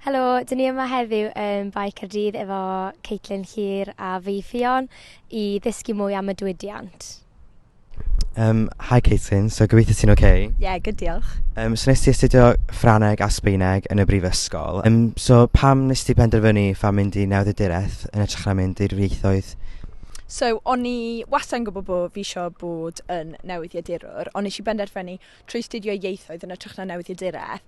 Helo, dyn ni yma heddiw yn Bae Caerdydd efo Caitlin Hir a fi Ffion i ddysgu mwy am y diwydiant. Um, hi Caitlin, so gobeithio ti'n oce? Okay? Ie, yeah, good diolch. Um, so nes ti astudio Ffraneg a Sbeineg yn y brifysgol. Um, so pam nes ti penderfynu pha mynd i newyddiaduraeth yn ytrach na mynd i'r ieithoedd? So o'n i wastad yn gwybod bod fi eisiau bod yn newyddiadurwr, ond nes i benderfynu trwy studio ieithoedd yn ytrach na newyddiaduraeth,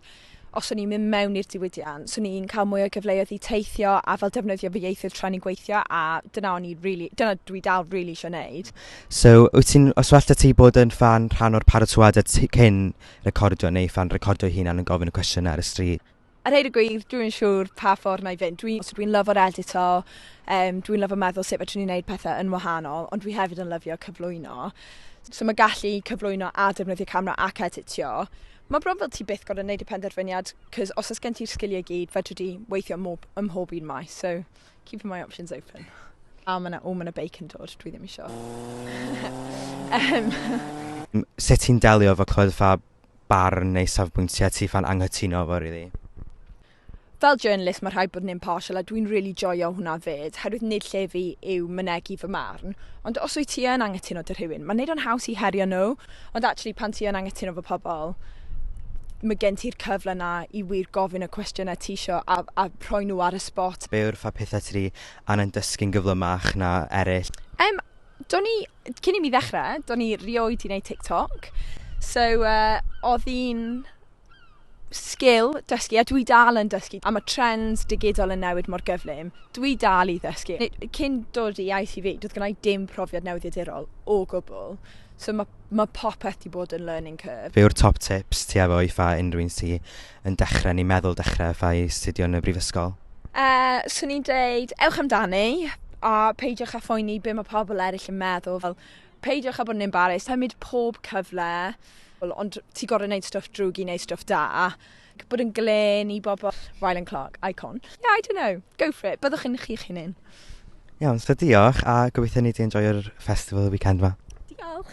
os o'n i'n mynd mewn i'r diwydiant, swn i'n cael mwy o gyfleoedd i teithio a fel defnyddio fy ieithoedd tra o'n i'n gweithio a dyna o'n i rili... dyna dwi dal rili isio wneud. So, wyt ti'n... os well 'da ti bod yn ffan rhan o'r paratoadau cyn recordio neu ffan recordio'i hunan yn gofyn y cwestiynau ar y stryd? A rhaid y gwir, dwi'n siŵr pa ffordd na i fynd. Dwi, so dwi'n lyfo'r edito, um, dwi'n lyfo meddwl sut fedrwn ni wneud pethau yn wahanol, ond dwi hefyd yn lyfio cyflwyno. So mae gallu cyflwyno a defnyddio camera ac editio, mae bron fel ti byth gorau wneud y penderfyniad, cos os oes gen ti'r sgiliau gyd, fedrwn ni weithio ym mhob, ym mhob un maes, so keep my options open. A mae yna, o mae yna beic yn dod, dwi ddim eisiau. um. Sut ti'n delio efo clywed y ffab barn neu safbwyntiau ti ffa'n anghytuno efo rili. Fel journalist mae rhaid bod yn impartial a dwi'n rili joio hwnna 'fyd herwydd nid lle fi yw mynegi fy marn ond os wyt ti yn anghytuno 'da rhywun mae'n neud o'n haws i herio nhw ond actually pan ti yn anghytuno 'fo pobl mae gen ti'r cyfle 'na i wir gofyn y cwestiynau ti isio a, a rhoi nhw ar y spot. Be yw'r ffa pethau ti 'di angen dysgu'n gyflymach na eraill? Em, Do'n i, cyn i mi ddechrau, do'n i rioed i wneud TikTok. So, uh, oedd hi'n sgil dysgu, a dwi dal yn dysgu, a mae trends digidol yn newid mor gyflym, dwi dal i ddysgu. Cyn dod i ITV, doedd gennau dim profiad newyddiadurol o gwbl, so mae ma popeth wedi bod yn learning curve. Fe yw'r top tips ti efo i fa unrhyw un sy yn dechrau neu meddwl dechrau fatha i astudio yn y brifysgol? Yy, 'swn i'n deud ewch amdani a peidiwch â phoeni be' ma' pobl eryll yn meddwl, fel peidiwch â bod yn embarrassed, cymryd pob cyfle, wel ond ti gor'o' neud stwff drwg i neud stwff da, ac bod yn glên i bobl. Rylan Clark, icon. Yeah, I don't know, go for it, byddwch yn chi'ch hunin. Iawn, so diolch a gobeithio nei di enjoio'r festival y weekend 'ma. Diolch.